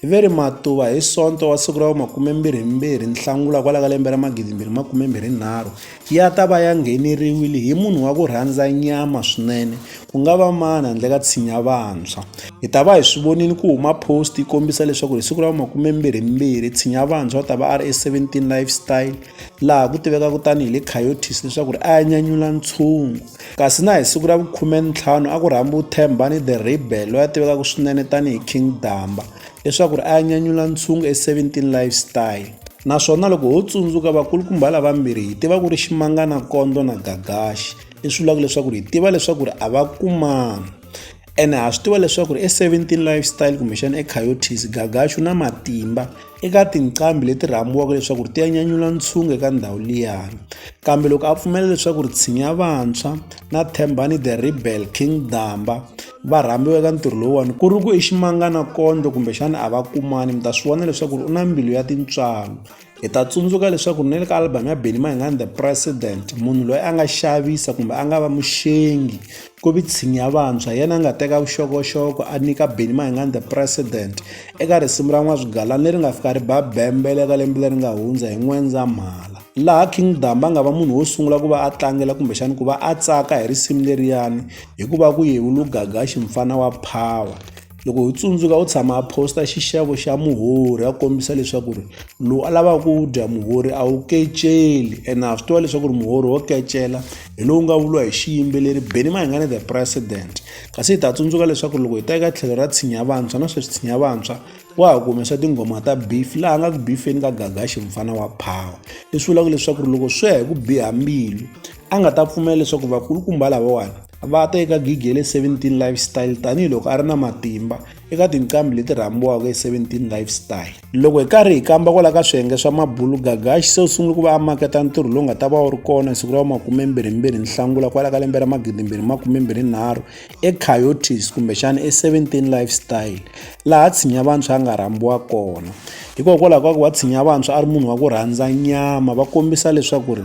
Hi ve ri matuva hi sonto wa siku ra vu-22 Nhlangula kwala ka lembe ra 2023, ya ta va ya ngheneriwile hi munhu wa ku rhandza nyama swinene ku nga va mani handle ka tshinya vantshwa. Hi ta va hi swi vonile ku huma post yi kombisa leswaku hi siku ra vu-22 tshinya vantshwa u ta va a ri e17 Lifestyle, laha ku tivekaka tani hi le Coyotes leswaku a ya nyanyula ntshungu. Kasi na hi siku ra vu-15 a ku rhambiwe Thembani The Rebel loyi a tivekaka swinene tani hi King Damba leswaku a ya nyanyula ntshungu e-17 Lifestyle. Naswona loko ho tsundzuka vakulukumba lavambirhi hi tiva ku ri Ximangana Kondlo na Gagaxi, leswi vulaka leswaku hi tiva leswaku a va kumana. ene ha swi tiva leswaku ri e17 lifestyle kumbexana ecoyotis gagaxu na matimba eka tinqambi leti rhambiwaka leswaku ri ti ya nyanyula ntshungu eka ndhawu liyani kambe loko a pfumela leswaku ri tshinya vantshwa na thembani the rebel king damba va rhambiwa eka ntirho lowuwani ku ri ku i ximangana kondlo kumbexana a va kumani mi ta swi vona leswaku ri u na mbilu ya tintswalo hi ta tsundzuka leswaku ni le ka album ya benny mayingani the president munhu loyi a nga xavisa kumbe a nga va muxengi ku vi tshinya vantshwa yena a nga teka vuxokoxoko a nyika benny mayingani the president eka risimu ra n'waswigalani leri nga fika ri ba bembele ka lembe leri nga hundza hi n'wendzamhala laha king damba a nga va munhu wo sungula ku va a tlangela kumbexani ku va a tsaka hi risimu leriyani hikuva ku yevulugaga ximfana wa power Loko ho tsundzuka u tshama a post-a xixevo xa muhorhi a kombisa leswaku ri lowu a lavaka ku wu dya muhorhi a wu keceli ene ha swi tiva leswaku ri muhorhi wo kecela hi lowu nga vuriwa hi xiyimbeleri Benny Mayengani the president kasi hi ta tsundzuka leswaku loko hi ta eka tlhelo ra tshinya vantshwa na sweswi tshinya vantshwa wa ha ku humesa tinghoma ta beef laha nga ku beef-eni ka Gagaxi mufana wa phawa leswi vulaka leswaku ri loko swi ya hi ku biha mbilu a nga ta pfumela leswaku vakulukumba lavawani va ta eka gigi ya le 17 lifestyle tanihiloko a ri na matimba eka tinqambi leti rhambiwaka hi 17 lifestyle loko hi karhi hi kamba kwala ka swiyenge swa mabulu gagaxi se u sungule ku va a maketa ntirho lowu nga ta va wu ri kona hi siku ra makumembirhimbirhi nhlangula kwala ka lembe ra magidimbirhi makumembirhinharhu ecoyotis kumbexana e17 lifestyle laha tshinya vantshwa a nga rhambiwa kona hikokwalaho ka ku wa tshinya vantshwa a ri munhu wa ku rhandza nyama va kombisa leswaku ri